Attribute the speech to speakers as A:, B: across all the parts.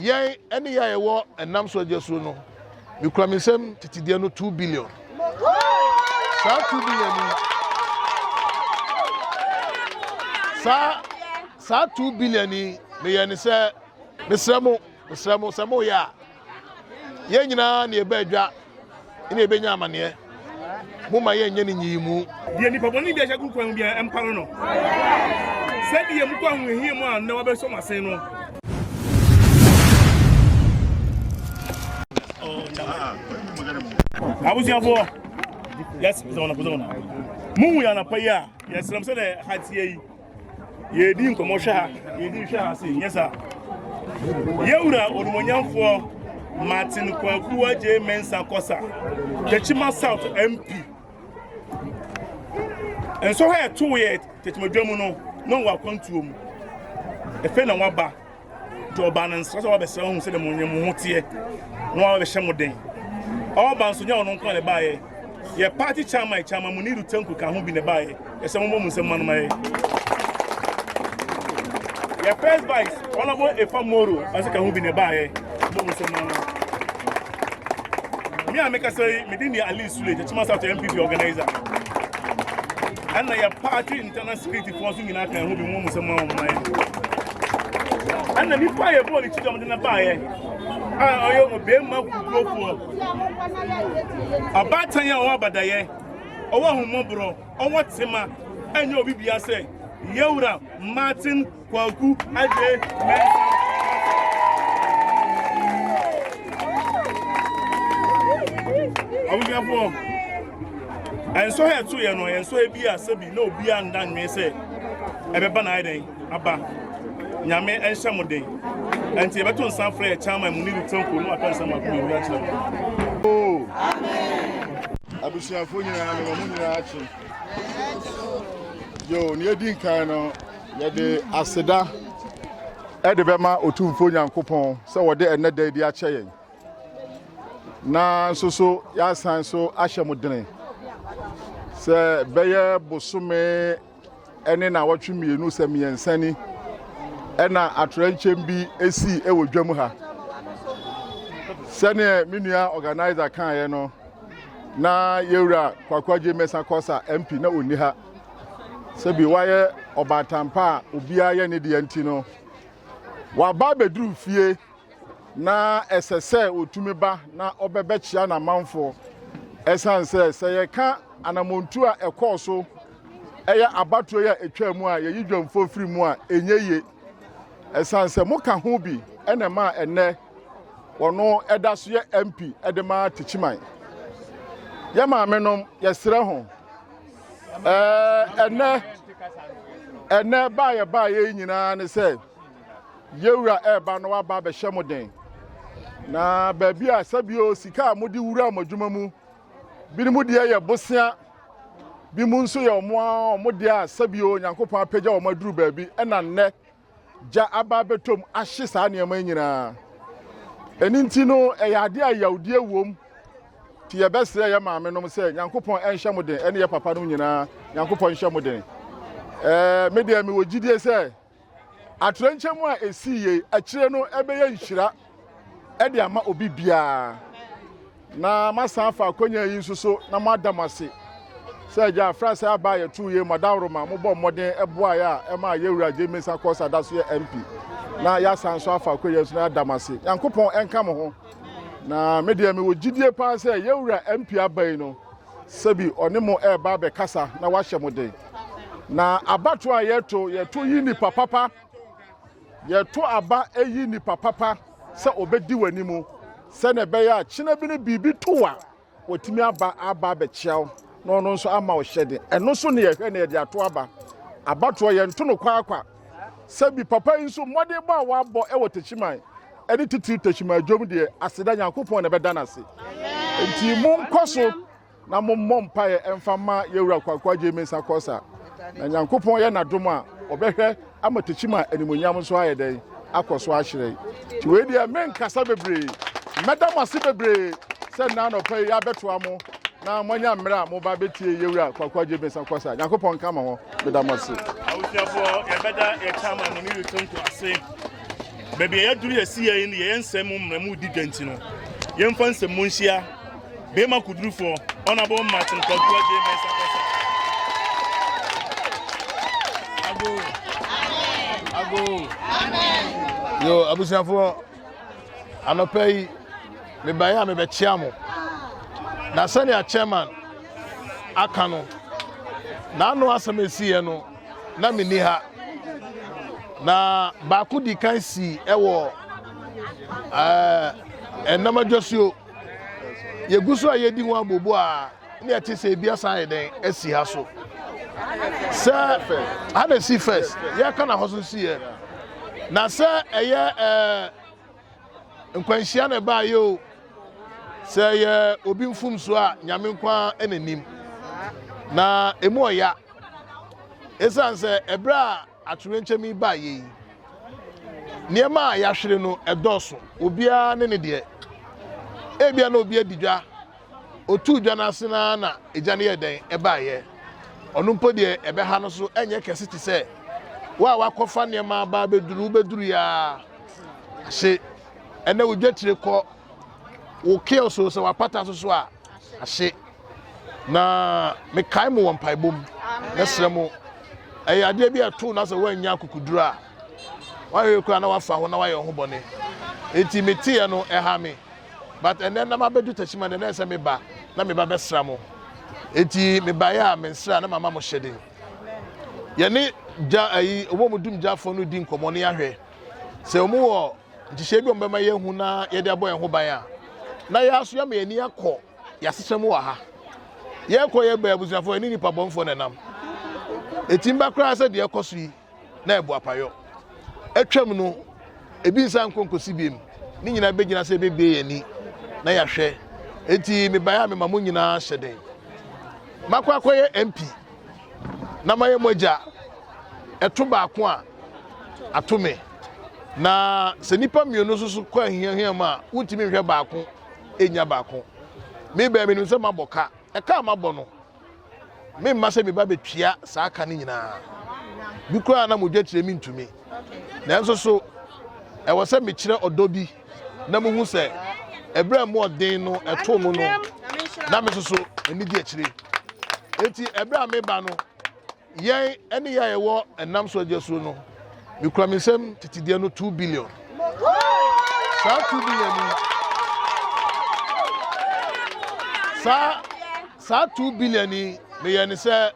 A: Yɛn ɛne yɛ a yɛwɔ ɛnam so agya suo no, mekura me nsam titideɛ no two billion. Saa two billion yi, saa saa two billion yi meyɛ ne sɛ mesrɛ mo mesrɛ mo sɛ moyɛ a yɛn nyinaa ne yɛbɛ adwa na yɛbɛnya amaneɛ. Momma yɛnyɛ no nyiyimu. Deɛ nipa bɔne bi ahyɛ
B: gu kwan mu biara, ɛmpa no no. Sɛdeɛ mokɔ ahohiahia mu a, nnɛ wɔbɛsɔ mo asen no. abusuafoɔ yɛsrɛ sɛ ɔnapɔsɛ ɔna mohu yɛ anapa yi a yɛsrɛ m sɛdeɛ ha teɛ yi yɛredi nkɔmmɔ hwɛ ha yɛdi hwɛ ha se nyɛ saa yɛwura onumonyamfoɔ martin kwaku agye mensa kɔsa tɛkyima south mp nso ha ɛto yɛ tɛkyimadwa mu no na wɔakwantuo mu ɛfɛ na wɔaba Nti ɔbaa no nsra sɛ wabɛsra hu sɛdeɛ mo nyɛmo ho teɛ na wabɛhyɛ mo den. Ɔba nso nyɛ ɔno nko na ɛbaeɛ. Yɛ party chairman chairman Muniru Tanku ka ho bi na ɛbaeɛ. Ɛsɛ mo mmɔ mo nsam ma no ma yɛ. Yɛ first vice Honorable Efa Moro nso ka ho bi na ɛbaeɛ. Mmɔ mo nsam ma no. Me a mekasa yi, me din yɛ Ali Sule, Tetima South MPP organizer. Ɛna yɛ party internal security Fo nso nyinaa ka ɛho bi mu sɛ mo a wɔn ayɛ. Ɛna nipa yɛ bɔɔl ne ti dɔm de na baayɛ a ɔyɛ ɔbɛrima kukurofoɔ abaatan a ɔwɔ abadayɛ ɔwɔ ahommɔborɔ ɔwɔ tema ɛnyɛ obi bia sɛ yɛwura Martin Kwaku Adwe Mɛnsa. Abusuafoɔ ɛnsɔ ha ɛto yɛ no ɛnsɔ ha bi a sɛbi Na obiara nna nnwen sɛ ɛbɛba na ayɛ dɛn aba. Nyame nhyɛ mo den. Ɛnti yɛbɛto nsa frɛ yɛ chairman mu ne Lutherfo no aka nsɛm baako mmienu akyerɛ mo. Oo. Abusuafo nyinaa no wɔn nyinaa akye. Yo, nea edi nkan no yɛde aseda ɛde bɛma Otumfo Nyankopɔn sɛ wɔde ɛnnɛ da adi akyɛ yɛn. Na nso so yɛasan so ahyɛ mo dene sɛ bɛyɛ bosome ne naawɔtwe mmienu sɛ mmiɛnsa ni ɛna atorɛnkyɛm bi sii wɔ dwam ha sɛdeɛ me nua organizer kaeɛ no na yɛwura kwakwagye mɛsa kɔsa mp na ɔnni ha sɛbi wayɛ ɔbaatampa a obiara yɛ ne deɛ nti no waba abɛduru fie Ná ɛsɛ sɛ otumi ba na ɔbɛbɛkyia n'amanfo. Ɛsan sɛ sɛ yɛka anamontu a ɛkɔɔ so ɛyɛ abatoɔ yi a ɛtwaa mu a yɛyi dwamfoɔ firi mu a ɛnyɛ ye. Ɛsan sɛ moka ho bi ɛna ɛma ɛnɛ wɔno ɛda so yɛ MP ɛde ma Tikyiman. Yɛ maame nom yɛsrɛ ho ɛɛ ɛnɛ ɛnɛ baayɛ baayɛ nyinaa ne sɛ Yewura ɛɛba no aba abɛhyɛ mo den. Na baabi a sɛbio sika a mode wura mo adwuma mu, binom deɛ yɛ bosea, bi mu nso yɛ ɔmo a ɔmo deɛ a sɛbio Onyankopɔn apagya ɔmo aduru baabi ɛna nnɛ gya aba abɛtɔm ahye saa nneɛma yi nyinaa. Ɛno nti no ɛyɛ adeɛ a yawdie wom nti yɛbɛsrɛ yɛ maame nom sɛ Nyankopɔn ɛnhyɛ mo den ɛne yɛ papa nom nyinaa Nyankopɔn nhyɛ mo den. Ɛɛ me deɛ mewɔ gyidie sɛ Atoyerɛnkyɛm a esii yei akyire no bɛyɛ nhyira de ama obi biara. Na masan afa akɔnya yi nso so na moada mo ase sɛ agya afra sɛ aba a yɛtoo yei madaworo ma mobɔ mmɔden boaeɛ a ɛma yɛwura gye mesa kɔɔ sɛ ada so yɛ mp na yɛasan nso afa akɔnya nso na yɛada mo ase nyankopɔn ɛnka mo ho na medeɛ mewɔ gyidie paa sɛ yɛwura mp aba yi no Sɛbi ɔne mo reba abɛkasa na wahyɛ mo den. Na abato a yɛto, yɛto yi nipa papa. Yɛto aba yi nipa papa sɛ ɔbɛdi w'anim sɛnea ɛbɛyɛ a kyena bi no biribi to wo a, watumi aba aba abɛkyia wo na ɔno nso ama ɔhyɛ den. Ɛno nso ne yɛhwɛ na yɛde ato aba. Abatoɔ yɛnto no kwaakwa. Sɛbi papa yi nso mmɔdenbɔ a wabɔ wɔ Techiman ne titiriw Techiman dwom deɛ aseda Nyankopɔn na ɛbɛda no ase. Nti monkɔ so na mommɔ mpaeɛ mfa ma yɛwura Kwankwa Jay Mensah Kɔsa na Nyankopɔn yɛ n'adom a ɔbɛhwɛ ama Techiman animuonyam nso ayɛ dɛn akɔ so ahyerɛn. Nti wei deɛ menkasa bebree, mɛda mo ase bebree sɛ nna anɔpa yi abɛtoa mo na moanya mmerɛ a moba bɛtie yɛwura Kwankwa Jay Mensah Kɔsa. Nyankopɔn nka mo ho. Meda mo ase. Awosuafoɔ yɛbɛda yɛ chairman no ne youth nko ase. Baabi
C: a yɛaduru yɛsi yɛ yi no yɛyɛ nsɛm mu mmerɛ mu di dwa nti no yɛmfa nsɛm mu nhyia bɛrima kudurufoɔ ɔnabɔ Martin Kwakuwa J. Mensah Kasa. Ago.
A: Ago. Amen. Yo, abusuafoɔ. anɔpa yi mebaeɛ a mebɛkyea mo na sɛnea chairman aka no n'ano asɛm esiiɛ no na menni ha na baako di kan sii ɛwɔ ɛɛ ɛnam adwasuo yɛgu so a yɛdi ho abobo a ne ɛte sɛ ebi asan yɛ dɛn asi ha so sɛ ha na esi first yɛka na hɔ so si yɛ na sɛ ɛyɛ ɛɛ nkwanhyia na ɛbaa yɛ o sɛ ɛyɛ obi mfomso a nyame nkwa ɛna nim na emu ɔya esan sɛ ɛbrɛ a Atoyerɛnkyɛm yi baeɛ yi, nneɛma a yɛahwere no dɔɔso. Obiara ne ne deɛ. Ebia na obi adi dwa, ɔtuu dwa no ase no ara na egya no yɛɛ dɛn? Ɛbaeɛ. Ɔno mpo deɛ ɛbɛha no so nyɛ kɛse te sɛ wo a woakɔfa nneɛma aba abɛduru, wobɛduru yi ara ahye. Ɛnnɛ wo dwatire kɔ, wo kiosk o, sɛ wapata nso so a, ahye. na mekae mo wɔ mpaebɔ mu mɛsrɛ mo ɛyɛ adeɛ bi a ɛto na sɛ woannya akokoduro a wahwɛ kura na wafa ho na wayɛ ho bɔne enti meteɛ no ɛha me but ɛnɛ na mabɛdu takyima no ɛnɛ sɛ meba na meba bɛsra mo enti mebaeɛ a mensra na mama mo hyɛden yɛne gya ayi ɔmo mu dum gyafoɔ no di nkɔmmɔ ne ahwɛ sɛ ɔmo wɔ nhyehyɛ bi ɔmo bɛma yɛahu na yɛde abɔ yɛn ho ban a na yɛaso yɛama yɛn ani akɔ Yɛasesa mu wɔ ha. Yɛrekɔ yɛ bɛ abusuafoɔ yɛne nipa bɔnfoɔ na ɛnam. Ɛtim ba koraa sɛ deɛ ɛkɔ so yi na ɛbɔ apayɔ. Atwam no, ebi nsa nkɔ nkɔsi biem. Ne nyinaa bɛgyina sɛ yɛbɛbie yɛn ani na yɛahwɛ. Enti mebaeɛ a mema mo nyinaa hyɛ den. Makɔ akɔyɛ MP na mayɛ mo agya. Ɛto baako a, ato me. Na sɛ nipa mmienu nso so kɔ ahiahia mu a, wontumi nhwɛ baako nya baako. Me bɛn menim sɛ mabɔ ka. Ɛka a mabɔ no, memma sɛ me ba bɛtua saa ka no nyinaa. Bi koraa na mogya tire me ntumi. Nanso so ɛwɔ sɛ mekyerɛ ɔdɔ bi na muhu sɛ ɛberɛ a mu ɔden no ɛtoo mu no na me soso anigye akyire. Enti ɛberɛ a meba no, Yɛn ne yɛn a yɛwɔ ɛnam so agya suo no, mekura me nsam titideɛ no two billion. Saa two billion yi, saa saa two billion yi meyɛ ne sɛ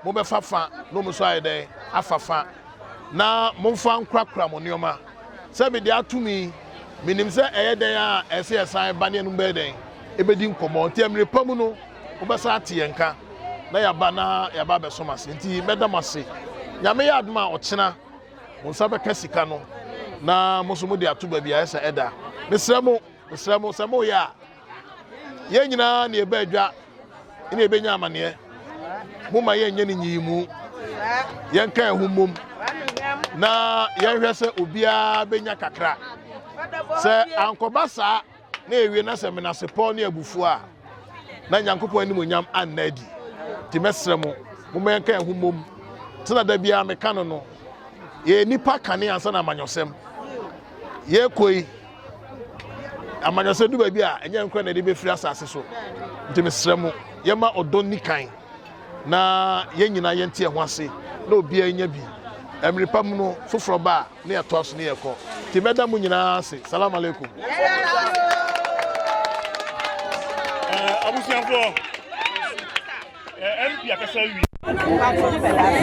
A: mobɛfa fa na ɔmo nso ayɛ dɛn afa fa na momfa nkurakura mo nneɛma sɛ mede atom yi menim sɛ ɛyɛ dɛn a ɛsɛ yɛsan ba ne ɛnom bɛyɛ dɛn ɛbɛdi nkɔmmɔ nti mmerɛ pa mu no wobɛsan ate yɛn nka na yɛaba na yɛaba abɛsom ase nti mɛda mo ase nyame yɛ adom a ɔkyena mo nsa bɛka sika no na mo nso mode ato baabi a ɛsɛ ɛda mesrɛ mo mesrɛ mo sɛ moyɛ a yɛn nyinaa ne ɛbɛ adwa ne ɛbɛnya amaneɛ moma yɛnyɛ no nyiyi mu yɛnka ɛho mmom na yɛnhwɛ sɛ obiara bɛnya kakra sɛ ankɔba saa na ewie na sɛ menasepɔw ne abufuo a, na Nyankopɔn animuonyam anna adi. Nti mɛsrɛ mo, momma yɛnka yɛn ho mmom. Sɛnea da biara meka no no, yɛyɛ nnipa kane ansa na amanyɔsɛm. Yɛrekɔ yi, amanyɔsɛm du baabi a, ɛnyɛ nkora na yɛde bɛfiri asase so. Nti mesrɛ mo, yɛma ɔdɔ nni kan, na yɛn nyinaa yɛnte yɛn ho ase, na obiara nya bi. Mmere pa mu no, foforɔ ba a, ne ɛtoa so ne ɛkɔ nti mɛda mo nyinaa ase salam aleikum
C: abusuafoɔ mp akasa wi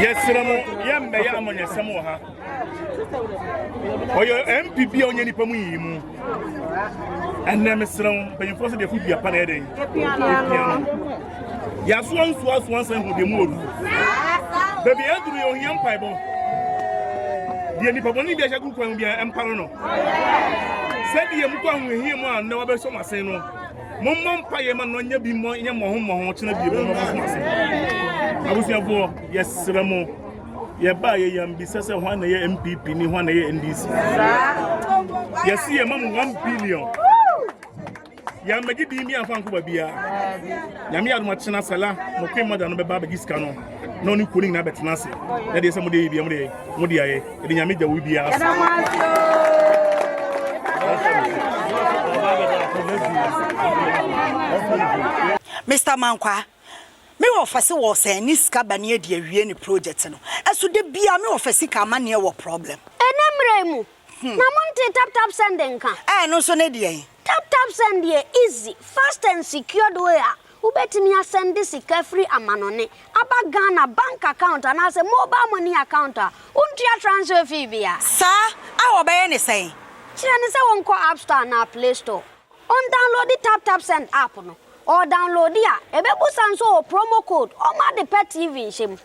C: yɛserɛ mo yɛmmɛyɛ amanyɛsɛm wɔ ha ɔyɛ mp bi a ɔnyɛ nipa mu yiyi mu ɛnɛ meserɛ mo mpanyimfoɔ sɛ deɛ fo dua pa na ɛdɛn ɛpia no Yɛasoa nsuasoa nsa hu deɛ mu wɔ du. Baabi a yɛaduru yɛ ohia mpaebɔ. Deɛ nipa bɔne bi ahyɛ gu kwan bi a ɛmpare no. Sɛdeɛ mokɔ ahohia mu a nnɛ wabɛsɔ mo ase no, mommɔ mpaeɛ ma no nyɛ bi mmɔ nyɛ mmɔho mmɔho kyena bie mu mmɔho mo ase. Abusuafoɔ, yɛsrɛ mo yɛbaa yɛ yɛn bisa sɛ hwan na yɛ mpp ni hwan na yɛ ndc yɛsi yɛ ma mo one billion yɛn mɛgye din bi anfa nko baabi a nyame adoma kyena sɛla mo kwe mɔda no bɛba abɛgye sika no na ɔne kuo no nyinaa bɛtena ase na deɛ sɛ mode yɛ bia mode mode ayɛ ɛde nyame gya wo biara ase
D: Mr. Mankwa, me wɔfɛse wɔ sɛn ne sika ba ne adi awie ne project no. Ɛso da bia me wɔfɛse ka ama neɛ wɔ problem. Ɛnɛ mmerɛ mu,
E: Na montee tap tap send nka? Ɛɛ ɛno nso ne deɛn?
D: Tap tap send yɛ
E: easy, fast and secured way a wobɛtumi asɛnde sika firi amanɔne aba Ghana bank account anaasɛ mobile money account a wontua transfer fee biara. Saa a
D: wɔbɛyɛ ne sɛn? Kyerɛ no sɛ wɔnkɔ
E: app store anaa play store, ɔndownloadi tap tap send app no, ɔɔdownloadi a ɛbɛbusa nso ɔwɔ promo code ɔma ade pa TV nhyɛ mu.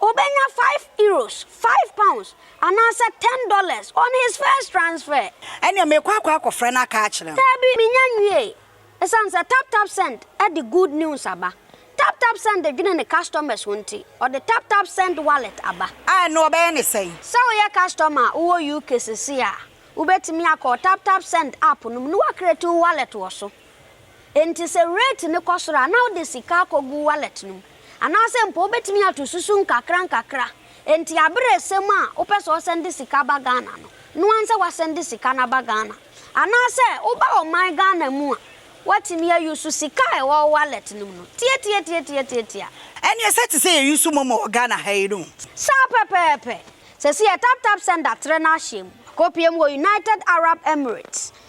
E: Obenya five euros, five pounds, anaasɛ ten dollars on his first transfer. Ɛnneɛ merekɔ akɔ
D: akɔfrɛ no aka akyerɛ no. Daabi, mennya nwiei.
E: Esiane sɛ TapTapSend de good news aba, TapTapSend dwene ne customers ho nti, ɔde TapTapSend Wallet aba. A, ɛnneɛ wɔbɛyɛ no
D: sɛn? Sɛ woyɛ customer
E: a wowɔ UK seesei a, wobɛtumi akɔ TapTapSend app no mu na woacreate wo wallet wɔ so. Enti sɛ rate no kɔ soro a, na wode sika akɔgu wallet no mu. Anaasɛ mpo wobɛtumi ato susu nkakrankakra. Enti aberɛ resɛm a wopɛ sɛ ɔsɛnde sika ba Ghana no, noa nsɛ wasɛnde sika no aba Ghana. Anaasɛ woba ɔman Ghana mu a, woatumi a use sika a ɛwɔ wo wallet no mu no. Tiatiatiatiatiatia. Ɛneɛ sɛ
D: te sɛ yɛ use momo wɔ Ghana ha yi no. Saa pɛpɛɛpɛ.
E: Sɛsi yɛ taptapsend atrɛ no ahyɛm. Akɔpie mu wɔ United Arab Emirates.